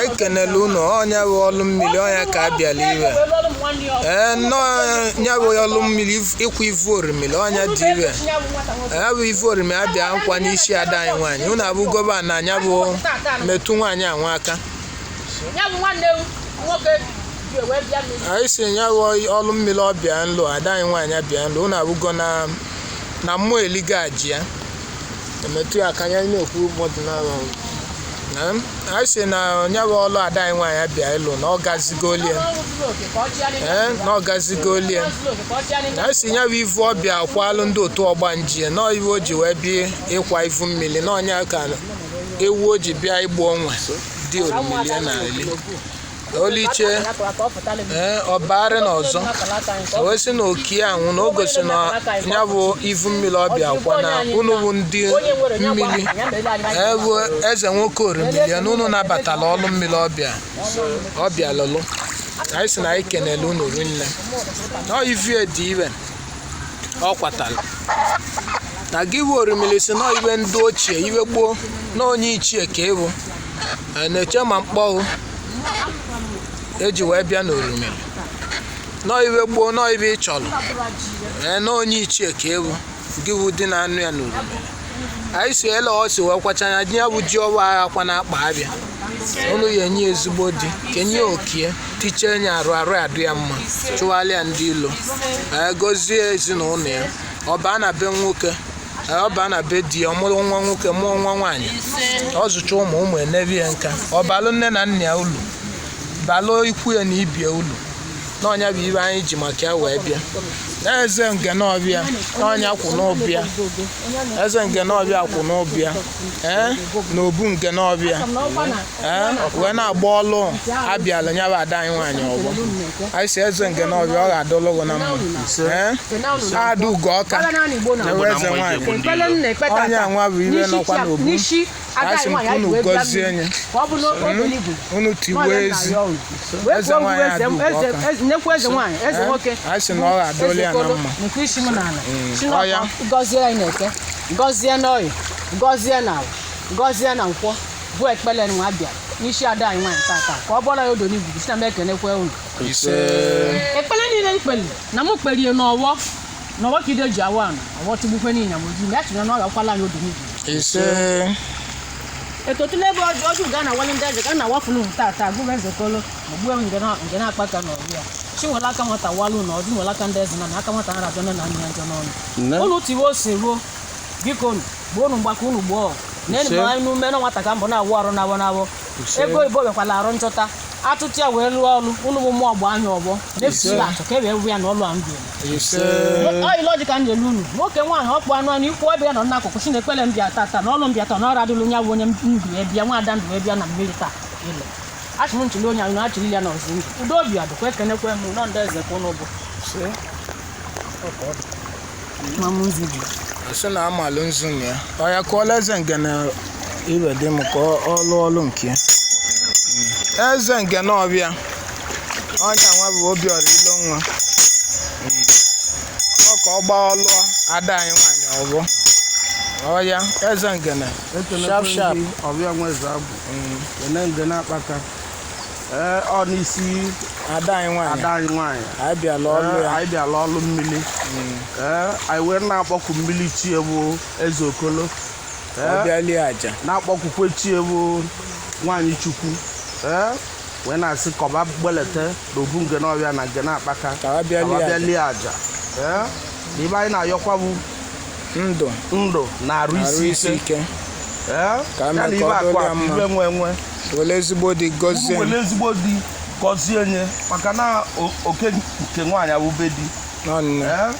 ekenela unu ọ nya bụ ọlụ mmiri ọ nya ka a bịala ive ee na ọ nya bụ ọlụ mmiri ịkwa ivu orimiri ọ nya dị ive nya bụ ivu orimi abịa nkwa n'isi ada anyị nwaanyị unu abụgo va na nya bụ metụ nwaanyị anwa aka anyị si nya bụ ọlụ mmiri ọ bịa nlụ ada anyị nwaanyị abịa nlụ unu abụgo na mmụọ eliga aja ya emetụ ya aka anyị na-ekwu mmadụ n'ala anyị si na nya bụ ọlụ ada anyị nwaanyị abịa ịlụ na ọ gazigolie ee na ọ gazigolie anyị si nya bụ ivu ọ bịa akwalụ ndị otu ọgbanje na ive o ji wee bịa ịkwa ivu mmiri na ọ nya ka ewu o ji bịa igbu onwe dị orimili na-eli Oliche ee ọbagharị na ọzọ o wee sị na okie anwụna o gosi na ya bụ ivu mmiri ọ bịa akwa na unu bụ ndị mmiri ee bụ eze nwoke orimiri ya na unu nabatala ọlụ mmiri ọ bịa lụlụ anyị sị na anyị kenele unu rinne na ọ ive dị ive ọ kwatara na gị bụ orimiri si na ive ndị ochie ive gboo na onye ichie ka ịbụ na-eche ma mkpọghụ e ji wee bịa n'orimiri na ọ ive gboo na ọ ive ị chọrọ ee na onye ichie ka ewu gị wu dị na anụ ya n'orimiri anyị si ele ọsị wee kwacha ya nye bụ ji ọwa agha kwa na akpa ahịa unu ya enye ezigbo di kenye okie tiche enye arụ arụ adị ya mma chụwalịa ndị ilo ee gozie ezinụlọ ya ọ baa na be nwoke Ee, ọ baa na be di ya ọ mụrụ nwa nwoke mụọ nwa nwaanyị ọ zụcha ụmụ ụmụ enebe ya nka ọ balụ nne na nna ya ulu balụ ikwu ya na ibie ulu na ọ nya bụ ive anyị ji maka ya wee bịa eze Ngene Ọbịa na ọ nya kwụ n'ọbịa eze Ngene Ọbịa kwụ n'ọbịa ee eh, n'obu Ngene Ọbịa ee eh, wee na-agba ọlụ abịala nya bụ ada anyị nwaanyị ọgbọ anyị si eze Ngene Ọbịa ọ ga-adọlụ gị na mma ee eh, ada ugo ọka ewe eze nwaanyị onye nwa bụ ibe nọkwa n'obu anyị si unu gọzie nye unu tiwe ezi eze nwaanyị ada ugo ọka anyị si na ọ ga-adọlụ ya na mma ọ ya gọzie n'oye gọzie na avọ gọzie na nkwọ bụ ekpele nwa bịa n'isi ada anyị nwaanyị tata ka ọ bụla ya odo n'igwugwu si na m ekenekwe unu ise ekpele niile m kpeli na m kpelie n'ọvọ na ọvọ ka ide ji awa anị ọvọ tigbukwe niile m oji ya chịrị na ọ ga-akwala anyị odo n'igwugwu ise etotụla ebe ọjụ ọjụ ga na awali ndị aja ga na awafulu m tata gụrụ ezekolo ogbuo ngene ngene akpaka na ọbịa chi nwere aka nwata walụ na ọdị nwere aka ndị eze na na aka nwata nara abịa na nna ya njọ n'ọnụ Nne? unu tiwe ose ruo biko nu gbuo unu mgbaka unu gbuo ọgụ na enyi Ise. anyị n'ume na nwata ka m bụ na-awụ arụ n'avọ n'avọ Ise. ego oyibo vịakwala arụ nchọta atụtụ ya wee lụọ ọrụ unu bụ mmụọ gbaa anya ọ gbana efusila achọ ka e wee wụ ya na ọlụ a ndụ ise ọyị lọji ka m na-elu unu nwoke nwaanyị ọkpụ anụ anụ ikwu ọbịa nọ n'akụkụ si na-ekpele m bịa tata na ọlụ m bịa taa na ọrụ adịlụ ya bụ onye m du ya bịa nwa ada m du ya bịa na mmiri taa ịlọ achị m nchịli onye anyị na-achịli ya n'ụzọ ndụ udo obi adụkwa ekenekwe m unu ndị eze ka unu bụ ma m nzu dị sị na amalụ nzu na ya ọ ya kụọla eze ngene ive dị mma ka ọ- ọ lụọ ọlụ nke ya Mm. eze ngene ọbịa onye nwa bụ Obiora Ilo nwa Mm. ọ ka ọ gbaa ọlụọ ada anyị nwaanyị ọgbọ ọya eze ngene sharp sharp ọbịa nweze abụ Eze ngene akpaka ee ọ n'isi ada anyị nwaanyị ada anyị nwaanyị anyị bịala ọlụ Ee, ya anyị bịala ọlụ mmiri ee anyị wee na-akpọku mmiri chi evu eze okolo ọ ee bịa lie aja na-akpọkwukwe chi evu nwaanyị chukwu ee wee na-asị ka va gbelete na obu ngene ọbịa na ngene akpaka Ka ha bịa lie aja. bịa lie aja ee na ive anyị na-ayọkwa bụ ndụ ndụ na arụ arụ isi isi ike ike Ee, Ka ya na mee ive ka ọ akụ dịrị ya akụ mma. ive enwe enwe were ezigbo di gọzie were ezigbo di gọzie nye maka na o- oke nke nwaanyị awụ be di nwanne Ee,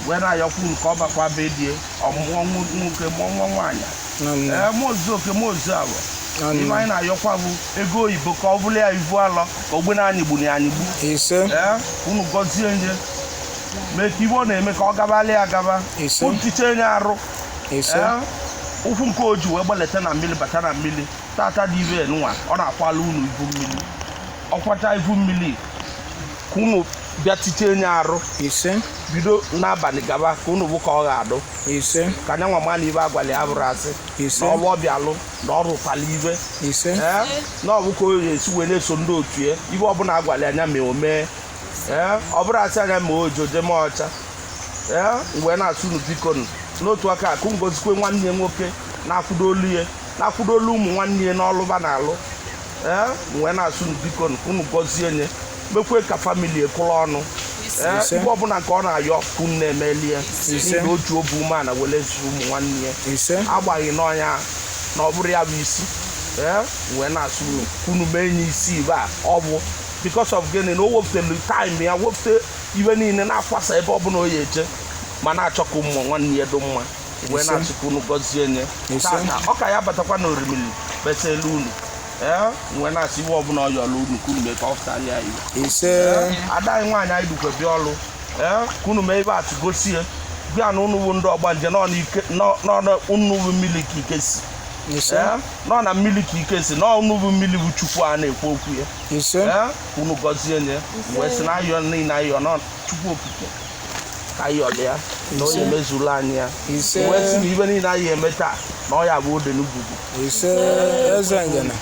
wee na-ayọkwu nke ọ bakwa be die ọ mụọ nwo- nwoke mụọ nwa nwaanyị nwanne ee mụzuo oke mụzuo agbọ ive anyị nwanne na-ayọkwa bụ ego oyibo ka ọ bụlụ ya ivu alọ ka ọ gbana anyịgbu ya anyịgbu ise ee unu gọzie nye mee ka ive ọ na-eme ka ọ gabalị ya gaba Ise. tiche nye arụ ise Ee, ụkwụ nke oji wee gbaleta na mmiri bata na mmiri tata dị ive nwa ọ na-akwala unu ivu mmiri ọ kwacha ivu mmiri ka unu bịa tiche nye arụ ise bido n'abalị gaba ka unu bụ ka ọ ga-adụ ise ka nya nwa ma na ive agwali ya abụrọ asị Ise. na ọrụ ọ bịa alụ na ọ rụkwala ive ise Ee, na ọ bụ ka o esi wee na-eso ndị otu ya ive ọbụla agwali nya mee o mee ee ọ bụrọ a sị nya ma oji o jee ma ọcha ee wee na-asị unu biko nụ n'otu aka a ka unu gọzikwe nwanne ya nwoke na-akwụdolụ ya na-akwụdolụ ụmụ nwanne ya n'ọlụ va na-alụ ee wee na-asị unu biko nụ ka unu gọzie nye mekwe ka famili e kwụrụ ọnụ ee Ise. ive ọbụla nke ọ na-ayọ ka unu na-emeli ya Ise. n'ihi o ji obi umeala were zụ ụmụ nwanne ya ise agbaghị n'ọnya na ọ bụrụ ya bụ isi ee wee na-asị unu ka unu mee nye isi ive a ọ bụ because of gịnị na o wepụtelu time ya wepụta iwe niile na-akwasa ebe ọbụla o ya eje ma na-achọ ka ụmụ nwanne ya dị mma wee Ise. na-asị ka unu gọzie nye Ise. tata ọ ka ya batakwa na orimiri kpesa elu unu ee wee na-asị iwe ọbụla ọ yọrọ unu ka unu mee ka ọ pụtara ya iwe ise ada anyị nwaanyị anyị dukwe bịa ọlụ ee ka unu mee ibe atụ gosie bịa na unu bụ ndị ọgbanje nọ n'ike nọ- nọ na unu bụ mmiri ka ike si ise ee nọ na mmiri ka ike si nọ unu bụ mmiri bụ chukwu a na-ekwu okwu ya ise Ee, unu gọzie nye wee sị na ayọ niile ayọ na chukwu okike ka a yọlụ ya na ọ ya-emezuru anyị ya ise wee sị na ibe niile anyị eme taa na ọ ya-abụ ode n'ugwugwu ise eze ngene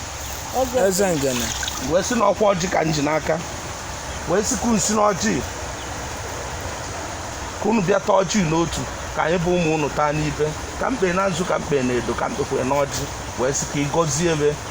eze ngene wee sị na ọkwa ọjị ka m ji n'aka wee sị ka unu si n'ọjị ka unu bịa taa ọjị n'otu ka anyị bụ ụmụ unu taa n'ibe ka m kpe na nzu ka m kpe na edo ka m kpekwe n'ọjị wee sị ka ị gọzie ebe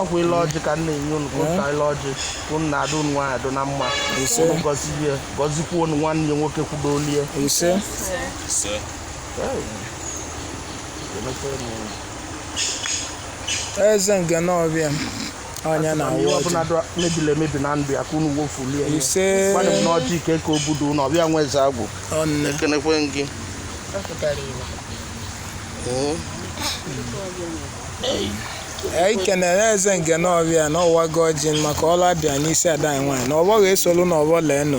ọkwa ile ọjị ka m na-enye unu ka unu taa ile ọjị ka unu na-adụ unu nwaanyị adụ na mma Ise. unu gọzie gọzikwa unu nwanne ya nwoke kwudolie ise Ise. eze ngene ọbịa onye na ihe awụ ọbụla dụ- mebiri emebi na ndụ ya ka unu wofulie ya. Ise. Gwanụ m na ọjị ike ka o budo unu ọbịa nwa eze agwụ ọnne ekenekwe gị anyị kenere eze ngene ọbịa na ọ wago ọjị maka ọlụ a bịa n'isi ada anyị nwaanyị na ọgbọ ga-esolu n'ọgbọ leenụ